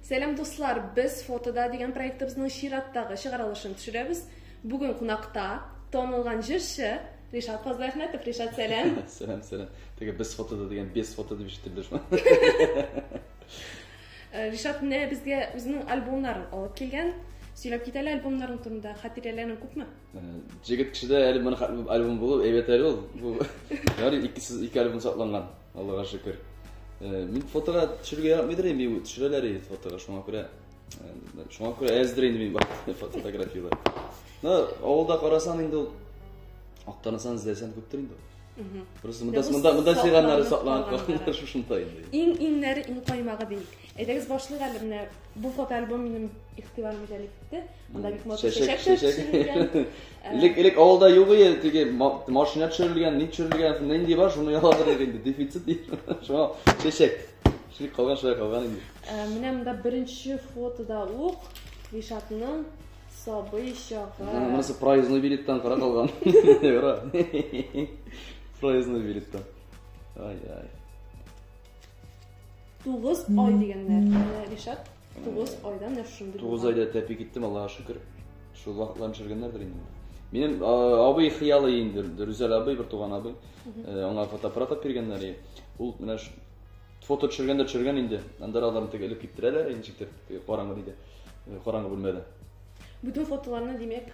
Сәлам дуслар, без фотода дигән проектыбызның чираттагы чыгарылышын төшерәбез. Бүген кунакта танылган җырчы Ришат Фазлахметов. Ришат, сәлам. сәлам, сәлам. Теге без фотода дигән без фото дип ишетелде шул. Э, Ришат менә безгә үзенең альбомнарын алып килгән. Сөйләп кит әле альбомнарың турында, хатирәләрең күпме? Җегет кешедә әле моны хәтле альбом булу әйбәт әле ул. Бу ярый икесез ике альбом сакланган. Аллага шөкер. Мин фотога төшерергә яратмыйдыр инде, бу төшерәләр инде фотога, шуңа күрә шуңа күрә әздер инде мин фотографияләр. Ну, авылда карасаң инде ул актанысан эзләсәң күптер инде. Просто монда монда монда җыйганнары сакланып калганнар шушында инде. Иң иңнәре иң каймагы бит. Әйдәгез башлык әле менә бу фотоальбом минем игътибарымны җәлеп итте. Монда бик матур чәчәк төшерелгән. Элек элек авылда юк иде, теге машина төшерелгән, ни төшерелгән, нинди бар, шуны яладыр инде, дефицит ди. Шуңа чәчәк. Шулай калган, шулай калган инде. Э, менә монда беренче фотода ук Ришатның сабый чагы. Монысы проездной билеттан кара калган. Проездной билеттан. Ай-ай. Тугыз ай дигәннәр. Ришат Тугыз айда менә шундый. Тугыз айда тәпи киттем, Аллага шөкер. Шул вакытлар ничергәннәрдер инде. Минем абый хыялы инде, Рүзәл абый, бер туган абый. Аңа фотоаппарат алып биргәннәр. Ул менә фото төшергәндә төшергән инде. Анда аларны тегеп элеп киптерәләр, ничектер караңгы диде. Караңгы бүлмәдә. Бүтән фотоларны димәк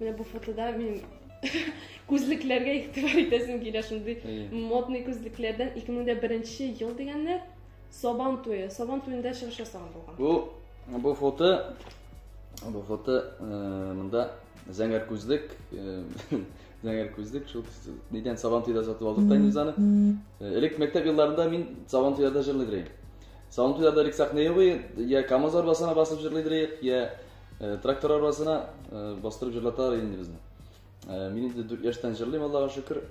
Менә бу фотода мин күзлекләргә игътибар итәсем килә шундый модный күзлекләрдән 2001 ел дигәннәр сабан туе сабан туенда чыгыш ясаган булган бу бу фото бу фото э, монда зәңгәр күзлек э, зәңгәр күзлек шул нидән сабан туеда сатып алдык та инде аны э, элек мәктәп елларында мин сабан туеда җырлый идем сабан туеда элек сәхнә юк я камаз арбасына басып җырлый идек я Э, трактор арбасына э, бастырып җырлаталар инде безне. Э, мин инде 4 яшьтән җырлыйм, Аллага шөкер.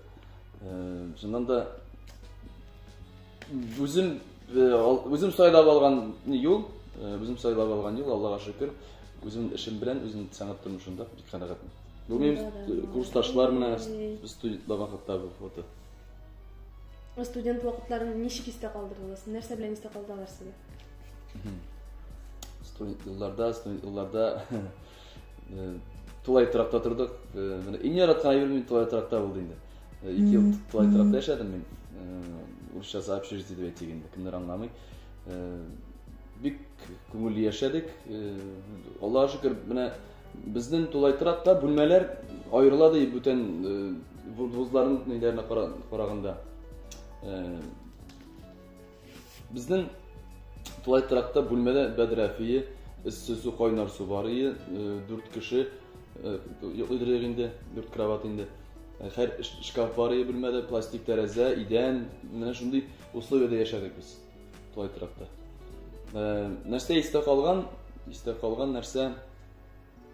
Шуннан да үзем үзем сайлап алган юл, үзем сайлап алган юл, Аллага шөкер. Үзем эшем белән, үзем сәнгать тормышында бик канәгатьмен. Бу минем курсташлар менә студентлар вакытта бу фото. Студент вакытларын ничек истә калдырдыгыз? Нәрсә белән истә калдылар сезгә? студент елларда студент елларда тулай торакта тордык менә иң яраткан әйберем мин тулай торакта булды инде ике ел тулай торакта яшәдем мин урысча сообщишь дип әйтик инде кемнәр аңламый бик күңелле яшәдек аллага шөкер менә безнең тулай торакта бүлмәләр аерыла ди бүтән вузларның ниләренә караганда Безнең тулай тракта бүлмәдә бәдрәфие, эссе су, кайнар су бар ие, дүрт кеше йоклыйдырыйк инде, дүрт кровать инде. Хәр шкаф бар ие бүлмәдә, пластик тәрәзә, идән, менә шундый условиядә яшәдек без тулай тракта. Нәрсә истә калган? Истә калган нәрсә?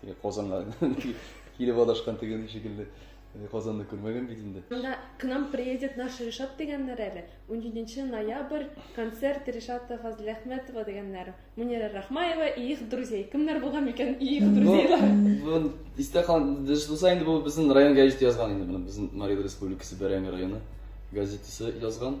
Теге Казанга килеп адашкан теге шикелле. Э, Казанны күрмәгән бит инде. Монда к нам приедет наш Ришат дигәннәр әле. 17 ноябрь концерт Ришата Фазләхмәтова дигәннәр. Мунира Рахмаева и их друзей. Кемнәр булган микән и их друзейлар? Бу истә калган дөрес булса инде бу безнең район газеты язган инде моны. Безнең Мария Республикасы Бәрәңге районы газетасы язган.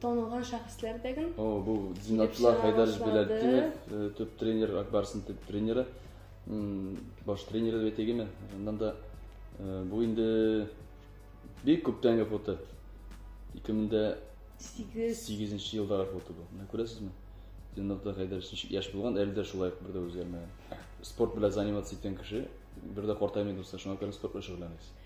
Танылган шәхесләр дәген. О, бу Зинатла Хайдаров Беләлтдинов, э, төп тренер, Акбарсын төп тренеры, баш тренеры дип әйтегеме? Аннан да э, бу инде бик күптәнге фото. 2008 елдагы фото бу. Менә күрәсезме? Зинатла Хайдаров ничек яшь булган, әле дә шулай бер дә үзгәрмәгән. Спорт белән заниматься иткән кеше, бер дә картаймый дуслар, шуңа күрә спорт белән шөгыльләнегез.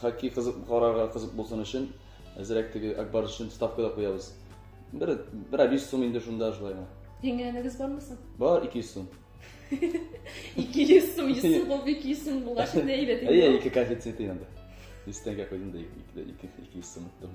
Хоккей кызык карарга кызык булсын өчен, әзерәк теге Акбар өчен ставка да куябыз. Бер бер 500 сум инде шунда шулай гына. Җиңгәнегез бармы соң? Бар 200 сум. 200 сум, 100 сум булып 200 сум булгач инде әйбәт инде. Әйе, ике коэффициент инде. 100 тәңкә куйдым да 200 сум иттем.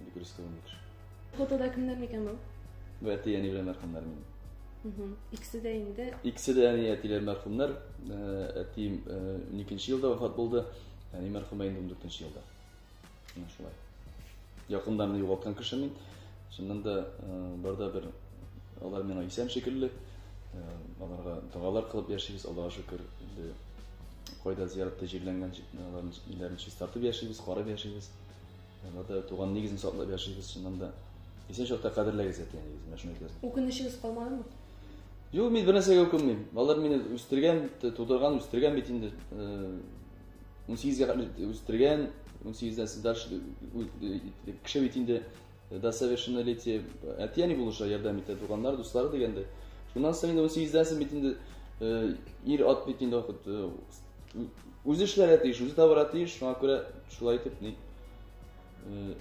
Или крестовник. Фотода кемдер микән бу? Бу әти әни белән мәрхәмнәр мин. Угу. Икесе дә инде. Икесе дә әни әтиләр мәрхәмнәр. Әти 12 елда вафат булды. Әни мәрхәмә инде 14 елда. Менә шулай. Якындан югалткан кеше мин. Шуннан да барда бер алар миңа исән шикелле. Аларга догалар кылып яшибез, Аллаһа шөкер. Инде кайда зияратта җирләнгән җирләрен чистартып яшибез, карап яшибез. Ватаев туган нигезен саклап яшигез, чыннан да. Исән чакта кадерләгез әти-әнигезне, менә шуны әйтәсем. Үкенечегез калмадымы? Юк, мин бер нәрсәгә үкенмим. Алар мине үстергән, тудырган, үстергән бит инде. 18-гә кадәр үстергән, 18-дән сез дальше кеше бит инде до совершеннолетия әти-әни булыша ярдәм итә, туганнар, дуслары дигәндә. Шуннан соң инде 18-дән сез бит инде ир ат бит инде вакыт үзе эшләргә тиеш, үзе табарга тиеш, шуңа күрә шулай итеп ни э,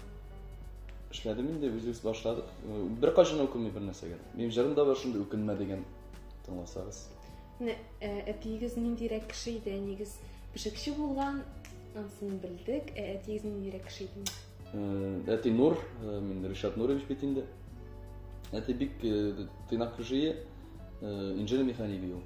эшләдем инде, үзебез башладык. Э, бер кайчан үкенми бер нәрсәгә. Минем җырым да бар шундый үкенмә дигән тыңласагыз. Менә э, әтиегез ниндирәк кеше иде? Әнигез пешекче булган, ансын белдек. Ә әтиегез ниндирәк кеше иде? Әти Нур, мин Ришат Нурович бит инде. Әти бик тыйнак кеше, инженер механик ул.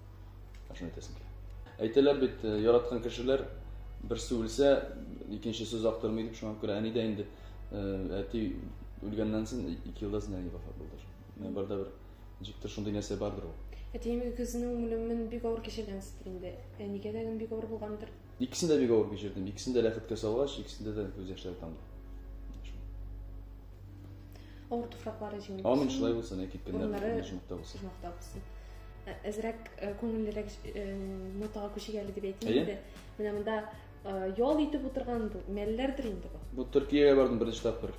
Ашын әйтәсең килә. Әйтәләр бит, э, яраткан кешеләр берсе үлсә, икенчесе озак тормый дип, шуңа күрә әни дә инде э, әти үлгәннән соң ике елдан соң әни вафат булды. Менә барда бер ничектер шундый нәрсә бардыр ул. Әтием үгезенең үлемен бик авыр кичергәнсездер инде. Әнигә дә бик авыр булгандыр. Икесен дә бик авыр кичердем. Икесен дә ләхеткә салгач, икесендә дә күз яшьләре тамды. Авыр туфраклары җиңел булсын. Амин, шулай булсын, әй киткәннәр оҗмахта булсын. Оҗмахта булсын. Ә, әзрәк ә, күңеллерәк ә, нотага күчик әле дип әйтим инде. Менә монда ял итеп утырган бу, мәлләрдер инде бу. Бу Төркиягә бардым беренче тапкыр.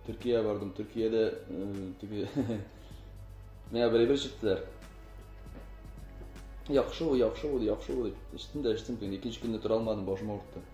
Төркиягә бардым. Төркиядә теге менә бер чыктылар. Яхшы бу, яхшы бу, яхшы бу. Эчтем дә, эчтем. Икенче көнне тора алмадым, башым авыртты.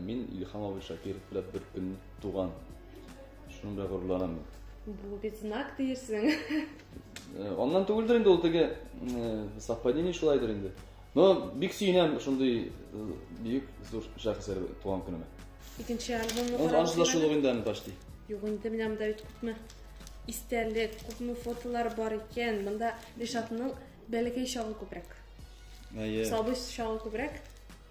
Мин Илхам абый Шакиров белән бер көн туган. Шуның белән горурланам. Бу бит знак диерсең. Аннан түгелдер инде ул теге совпадение шулайдыр инде. Но бик сөенәм шундый бик зур шәхесләр туган көнемә. Икенче альбомны карап. Аншла шул инде аны почти. Юк инде менә монда бит күпме истәлек, күпме фотолар бар икән. Монда Ришатның бәләкәй чагы күбрәк. Әйе. Сабый чагы күбрәк.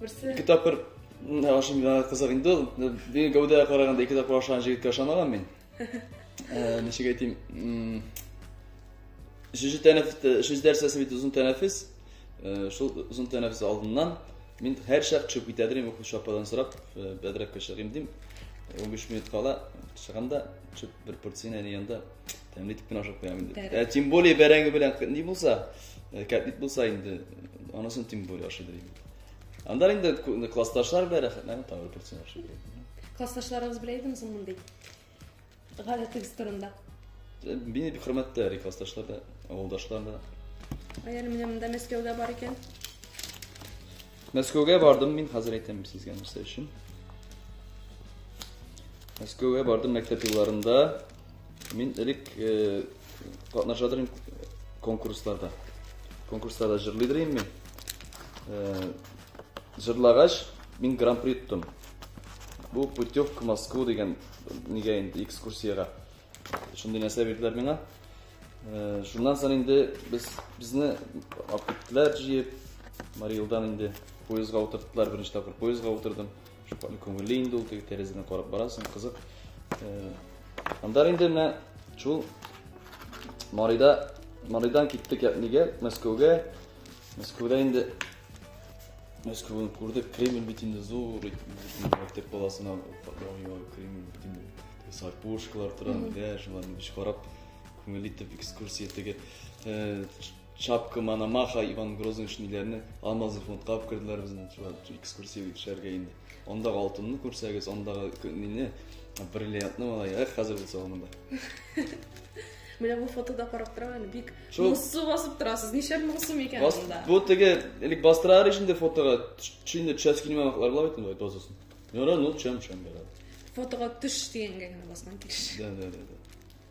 Берсе. Ике тапкыр ашым гына кызык инде ул. Бер гәүдә караганда ике тапкыр ашаган җегеткә ышанамам мин. Э, ничек әйтим? Шушы тәнәфес, шушы дәрсәсе бит озын тәнәфес. Э, шул озын тәнәфес алдыннан мин һәр чак төшеп китә дим, укучы ападан сорап, э, бәдрәккә чыгыйм дим. 15 минут кала чыгам да, төшеп бер порцияне янында Тәмле итеп кенә ашап куям инде. Ә тем более бәрәңге белән ни булса, э, кәтлит булса инде, анысын тем более ашыйдыр инде. Анда инде классташлар белән рәхәтләнә тагы процент ашый. Классташларыгыз белән идем соң мондый. Гадәтегез турында. Э, мине бик хөрмәттә ри классташлар да, авылдашлар да. Аяр менә монда Мәскәүдә бар икән. Мәскәүгә бардым мин хәзер әйтәм сезгә нәрсә өчен. Мәскәүгә бардым мәктәп елларында. Мин элек катнашадыр идем конкурсларда. Конкурсларда җырлыйдыр идем мин. Җырлагач, мин гран-при тоттым. Бу путевка Москва дигән нигә инде экскурсиягә. Шундый нәрсә бирделәр миңа. Шуннан соң инде без безне апитләр җыеп, Мариэлдан инде поездга утырттылар, беренче тапкыр поездга утырдым. Шуфаның күңелле инде ул теге тәрәзәдән карап барасың, кызык. Андар инде менә шул Марида Маридан киттек ятнигә, Мәскәүгә. Мәскәүдә инде Мәскәүне күрдек, Кремль бит инде зур, мәктәп баласына Кремль бит инде сар пушкалар тора, дә шуларны биш карап, күңелле итеп экскурсия теге Шапка Мономаха, Иван Грозный шниләрне алмазы фондка алып керделәр безне. Экскурсия төшәргә инде. Анда алтынны күрсәгез, андагы мине бриллиантны малай, эх, хәзер булса монда. Менә бу фотода карап торам әле, бик моңсу басып торасыз. Ничә моңсу микән монда? Бу теге, элек бастырар өчен дә фотога төшендә төшәс килмәмәкләр була бит инде, дозасын. Яра, ну, чам-чам бара. Фотога төш дигәнгә генә басман килеш. Да, да, да.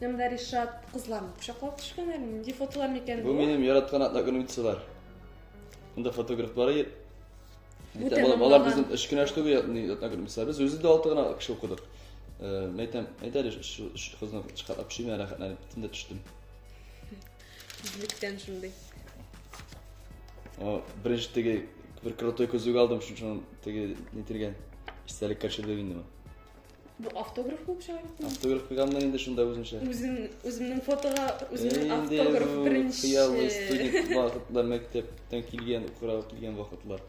Янымда Ришат кызларны кочаклап төшкән әле. Нинди фотолар микән бу? Бу минем яраткан атна көне битсалар. Монда фотографлар ит. Бүтә балалар, балалар безнең өч кенә штук ятны атна көне битсалар. Без үзе дә алты гына кеше укыдык. Э, мәйтәм, әйдә әле шу кызны чыгарып төшимә рәхәтләнеп тында төштем. Үзлектән шундый. О, беренче теге бер крутой көзүк алдым, шуның теге нитергән. Истәлек качырды инде. Бу автограф булып чыга бит. Автограф куйганмын инде шунда үземчә. Үзем үземнең фотога үземнең автограф беренче. Хыяллы студент вакытлар мәктәптән килгән, укырга килгән вакытлар.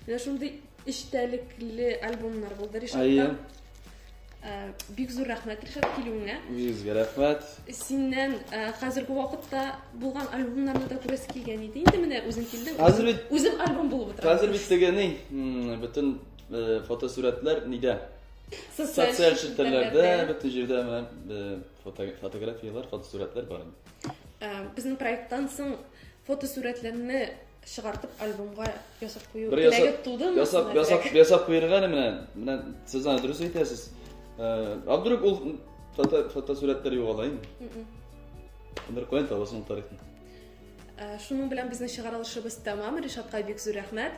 Менә шундый эчтәлекле альбомнар булды Ришатта. Э, бик зур рәхмәт Ришат килүеңә. Үзгә рәхмәт. Синнән э, хәзерге вакытта булган альбомнарны да күрәсе килгән иде. Инде менә үзең килдең. Хәзер бит үзем альбом булып утыра. Хәзер бит тегене бөтен Э, фотосурәтләр нидә? Социаль челтәрләрдә, бөтен җирдә менә э, фотографияләр, фотосурәтләр бар инде. Э, безнең проекттан соң фотосурәтләрне чыгартып альбомга ясап кую теләге тудымы? Ясап, ясап, ясап куярга менә, менә сез аны дөрес әйтәсез. А вдруг ул фотосурәтләр югала инде? Бер куен табасың тарихны. Шуның белән безнең чыгарылышыбыз тәмам. Ришатка бик зур рәхмәт.